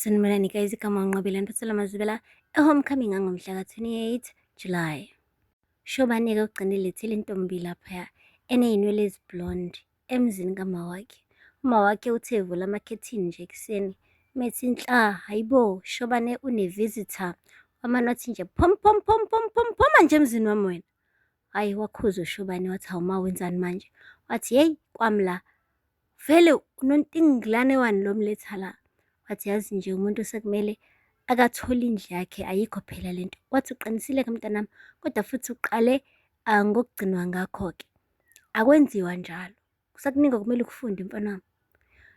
Sanibonani guys, igama uNqobile Ntothela Mazibela, e-homecoming ngangomhla ka-28 July. Shobane-ke ugcine lethile intombi laphaya eneyinwele eziblonde emzini kamawakhe. Umawakhe uthe evula amakhethini nje ekuseni methi nhla, hayibo Shobane une-visitor wamane wathi nje phom phom phom phom phom phoma nje emzini wami wena. Hhayi wakhuza uShobane wathi hawu ma wenzani manje? Wathi yeyi kwami la vele unontingilane wani lo mletha la? Wathi yazi nje umuntu sekumele akathole indlu yakhe ayikho phela lento. Wathi uqinisile ke mntanami kodwa futhi uqale ah, ngokugcinwa ngakho-ke. Akwenziwa njalo. Kusakuningi okumele ukufunde mfana wami.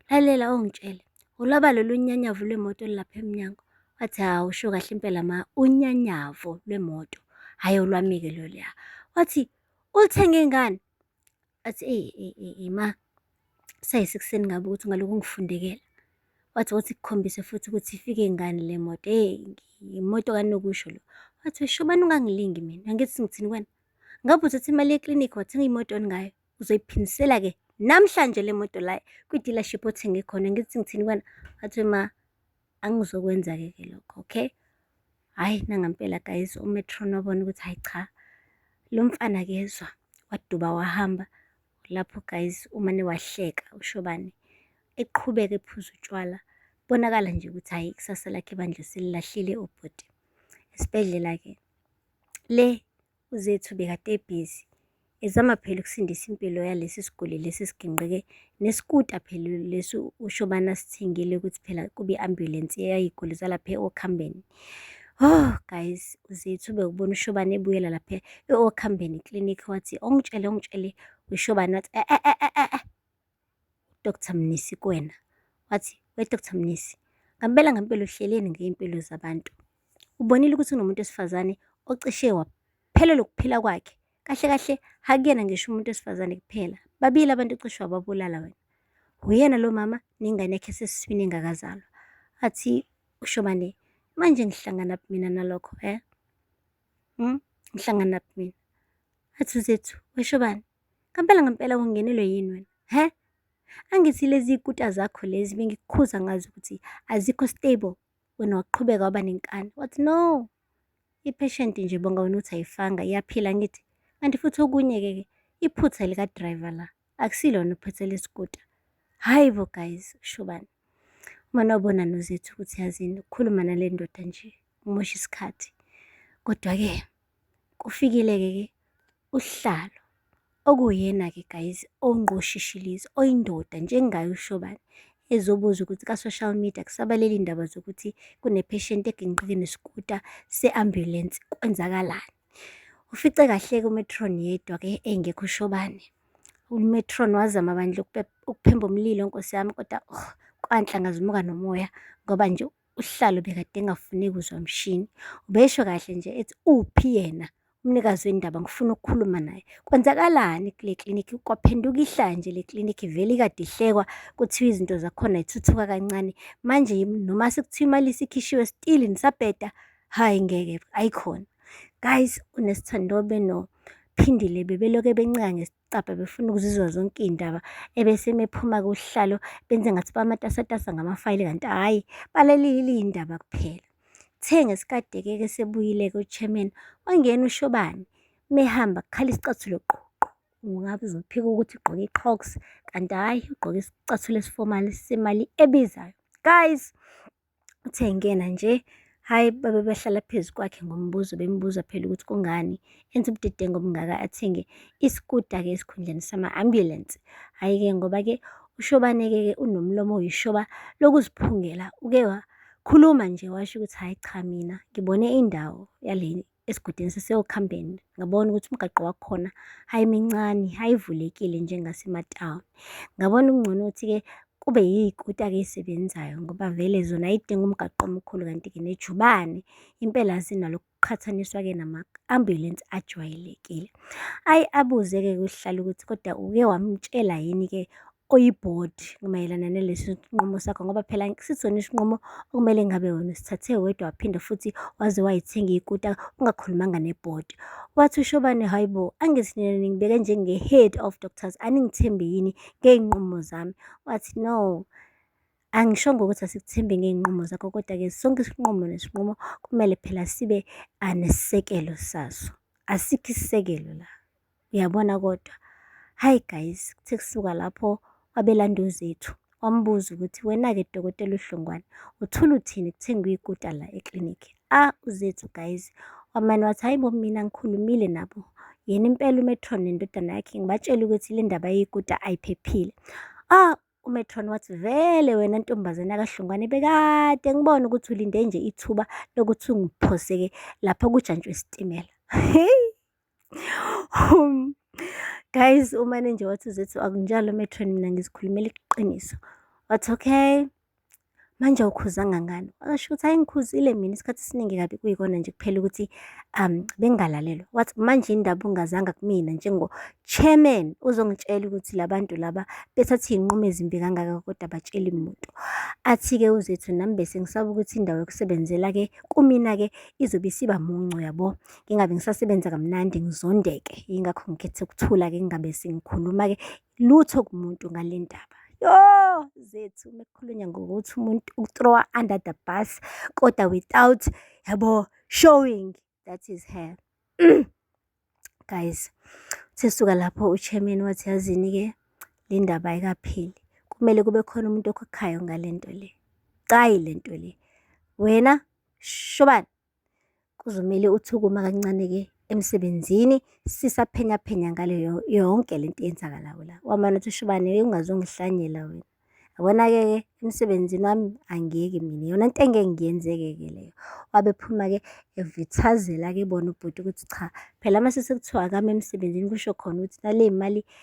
Lalela ongitshele. Ulaba lolu nyanyavu lwemoto olulapha emnyango. Wathi hawu usho kahle impela ma unyanyavu lwemoto. Hhayi olwamike loluya. Wathi ulithenge ngani? Athi eyi eyi eyi ma sayisekuseni ngabe ukuthi ungalokhu ungifundekela. Wathi wathi kukhombise futhi ukuthi ifike ngani le moto. Hey imoto kanokusho lo. Wathi usho bani ungangilingi mina. Angithi ngithini wena? Ngabe uthatha imali yeklinikhi wathenga imoto ngayo. uzoyiphindisela-ke namhlanje le moto la kwi-dealership othenge khona ngithi ngithini kwena wathi ma angizokwenza-ke ke lokho okay hhayi nangampela guys umetron wabona ukuthi hhayi cha lo mfana kezwa waduba wahamba lapho guys umane wahleka ushobane eqhubeke ephuza utshwala bonakala nje ukuthi hhayi ikusasa lakhe bandla selilahlile ubhuti esibhedlela-ke le UZethu bekade ebhizi ezama phela ukusindisa impilo yalesi siguli lesi sigingqike nesikuta phela lesi ushobana asithengile ukuthi phela kube ambulance eyayiguli zalapha okhambeni Oh guys uZethu bekubona ushobana ebuyela lapha eokhambeni clinic wathi ongitshele ongitshele ushobana wathi eh eh eh eh, eh, eh. uDr Mnisi kuwena, wathi, We Dr Mnisi, ngampela ngampela uhleleni ngey'mpilo zabantu. Ubonile ukuthi unomuntu wesifazane ocishe waphelelwa ukuphila kwakhe. Kahle kahle hakuyena ngisho umuntu wesifazane kuphela. Babili abantu ocishe wababulala wena. Uyena lo mama nengane yakhe esesiswini engakazalwa. Athi uShobane, manje ngihlangana mina nalokho, eh? Hmm? Ngihlangana mina. Athi uZethu, weshobane, Ngempela ngempela ungenelwe yini wena? He? Angithi lezi kuta zakho lezi bengikukhuza ngazo ukuthi azikho stable. Wena waqhubeka waba nenkani. Wathi no. I-patient nje bonga wena uthi ayifanga iyaphila ngithi. Kanti futhi okunye-ke ke iphutha lika-driver la. Akusilona iphutha lesikuta. Hayi bo guys, kusho bani? Uma nobona nozethu ukuthi yazini ukukhuluma nale ndoda nje umosha isikhathi. Kodwa-ke kufikile-ke ke Usihlalo, okuwuyena-ke guys ongqoshishilizi oyindoda njengaye uShobane ezobuza ukuthi ka-social media kusabalele indaba zokuthi kunepheshenti eginqike nesikuta se-ambulensi kwenzakalani. Ufice kahleke umetron yedwa-ke engekho uShobane. UMetron wazama bandla ukuphemba umlilo nkosi yami kodwa oh, kwanhlangazimuka nomoya ngoba nje usihlalo bekade engafuni kuzwa mshini ubesho kahle nje ethi uphi yena umnikazi wendaba ngifuna ukukhuluma naye kwenzakalani kule klinikhi kwaphenduka ihlanje le klinikhi vele ikade ihlekwa kuthiwa izinto zakhona ithuthuka kancane manje noma sekuthiwa imali isikhishiwe still nisabheda hhayi ngeke ayikhona guys unesithandobe nophindile bebeloke bencika cabha befuna ukuzizwa zonke iy'ndaba ebese mephuma kuhlalo benze ngathi bamatasatasa ngamafayili kanti hhayi balalelile iy'ndaba kuphela kuthe ngesikade-ke ke sebuyile-ke uchairman wangena ushobane mehamba kukhala isicathulo qo ungabe uzophika ukuthi ugqoke i-crocs kanti hhayi ugqoke isicathulo esiformal semali ebizayo guys Uthe engena nje, hhayi babe behlala phezu kwakhe ngombuzo, bembuza phela ukuthi kungani enza ubudedengu obungaka athenge isikuta-ke esikhundleni sama-ambulensi. Hhayi-ke ngoba-ke uShobane-ke ke unomlomo oyishoba lokuziphungela, uke wakhuluma nje washo ukuthi hhayi cha mina ngibone indawo yale esigodini siseyokuhambeni ngabona ukuthi umgaqo wakhona hhayi mincane hhayi ivulekile njengasematawuni ngabona kungcono ukuthi-ke kube yiy'kuta-ke ey'sebenzayo ngoba vele zona ayidingi umgaqo omkhulu kanti-ke nejubane impela zinalokhu kuqhathaniswa-ke nama-ambulensi ajwayelekile. Ayi abuze-ke kuSihlalo ukuthi kodwa uke wamtshela yini-ke oyibhodi mayelana nalesi sinqumo sakho ngoba phela sisona isinqumo okumele ngabe wena usithathe wedwa waphinde futhi waze wayithenga ikuta ungakhulumanga nebhodi. Wathi uShobane, hhayi bo, angithi nina ningibeke njenge-head of doctors aningithembi yini ngey'nqumo zami? Wathi no, angishongo ukuthi asikuthembi ngey'nqumo zakho kodwa-ke sonke isinqumo nesinqumo kumele phela sibe anesekelo saso, asikho isisekelo la. Uyabona kodwa, hhayi guys, kuthe kusuka lapho wabelanda uZethu, wambuza ukuthi wena-ke Dokotela uDlungwane, uthula uthini kuthe ngiyikuta la eklinikhi. Ah, uZethu guys, wamane wathi hhayi bo mina ngikhulumile nabo. Yena impela uMetron nendodana yakhe ngibatshela ukuthi le ndaba yeyikuta ayiphephile. Ah, uMetron wathi vele wena ntombazane yakaHlungwane bekade ngibona ukuthi ulinde nje ithuba lokuthi ungiphoseke lapha kujantshwe isitimela. Hheyi! Um, guys umane nje wathi uzethu akunjalo metron mina ngizikhulumela iqiniso wathi okay manje awukhuza ngangani washo ukuthi hayi ngikhuzile mina isikhathi esiningi kabi kuyikona nje kuphela ukuthi um bengalalelwa wathi manje indaba ungazanga kumina njengo-chairman uzongitshela ukuthi la bantu laba bethatha iy'nqumo ezimbi kangaka kodwa batsheli muntu athi-ke uzethu nami bese ngisaba ukuthi indawo yokusebenzela-ke kumina-ke izobe isiba muncu yabo ngingabe ngisasebenza kamnandi ngizondeke yingakho ngikhethe ukuthula-ke ngingabe sengikhuluma-ke lutho kumuntu ngale ndaba yo zethu uma kukhulunywa ngokuthi umuntu ukuthrowa under the bus kodwa without yabo showing that is her guys sesuka lapho uchairman wathi yazini-ke le ndaba ayikapheli kumele kube khona umuntu okhokhayo ngale nto le cayi le nto le wena shobani Kuzomele uthi ukuma kancane-ke emsebenzini sisaphenyaphenya ngale yonke le nto eyenzakalayo la. Wamane uthi ushubane ungazongihlanyela wena. Yabona-ke ke emsebenzini wami angiyeki mina iyona nto engeke ngiyenzeke-ke leyo. Wabe ephuma-ke evithazela-ke bona ubhuti ukuthi cha phela uma sesekuthiwa akame emsebenzini kusho khona ukuthi nale mali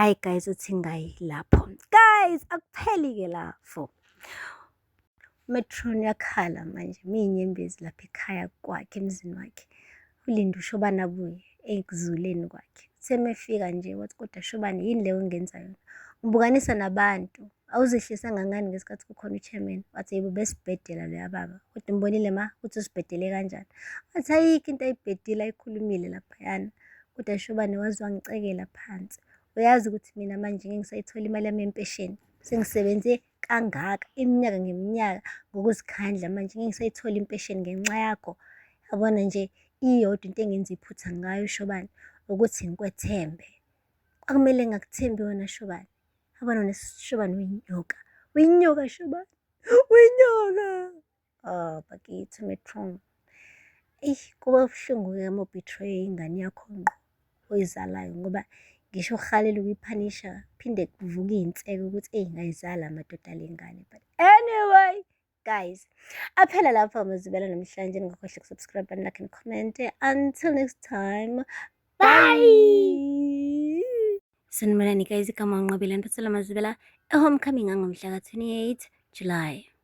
Ayi guys uthi ngayi lapho. Guys akupheli ke lapho. Metron yakhala manje miyinyembezi lapha ekhaya kwakhe emzini wakhe. Ulinda ushobana abuye ekuzuleni kwakhe. Semefika nje wathi kodwa shobane yini leyo ongenza yona? Ubukanisa nabantu. Awuzehlisanga ngani ngesikhathi kukhona uchairman? Wathi yebo besibhedela loya baba. Kodwa umbonile ma ukuthi usibhedele kanjani? Wathi ayikho into ayibhedile ayikhulumile laphayana. Kodwa Shobane waze wangicekela phansi. Uyazi ukuthi mina manje ngeke ngisayithola imali yami yempesheni. Sengisebenze kangaka iminyaka ngeminyaka ngokuzikhandla manje ngeke ngisayithola impesheni ngenxa yakho. Yabona nje iyodwa into engenza iphutha ngayo Shobane ukuthi ngikwethembe. Kwakumele ngakuthembi wena Shobane. abana nesishobane uyinyoka uyinyoka shobane uyinyoka oh bakithi metron eyi kuba buhlungu-ke uma ubethraye ingane yakho ngqo oyizalayo ngoba ngisho uhalela ukuyiphanisha phinde kuvuka iy'nseke ukuthi eyi ngayizala amadoda le ngane but anyway guys aphela lapho amazibela namhlanje ningakhohle kusubscribe and like and comment until next time bye sanibonani guys igama nginqobile mphathela mazibela ehomecoming angomhla ka-28 july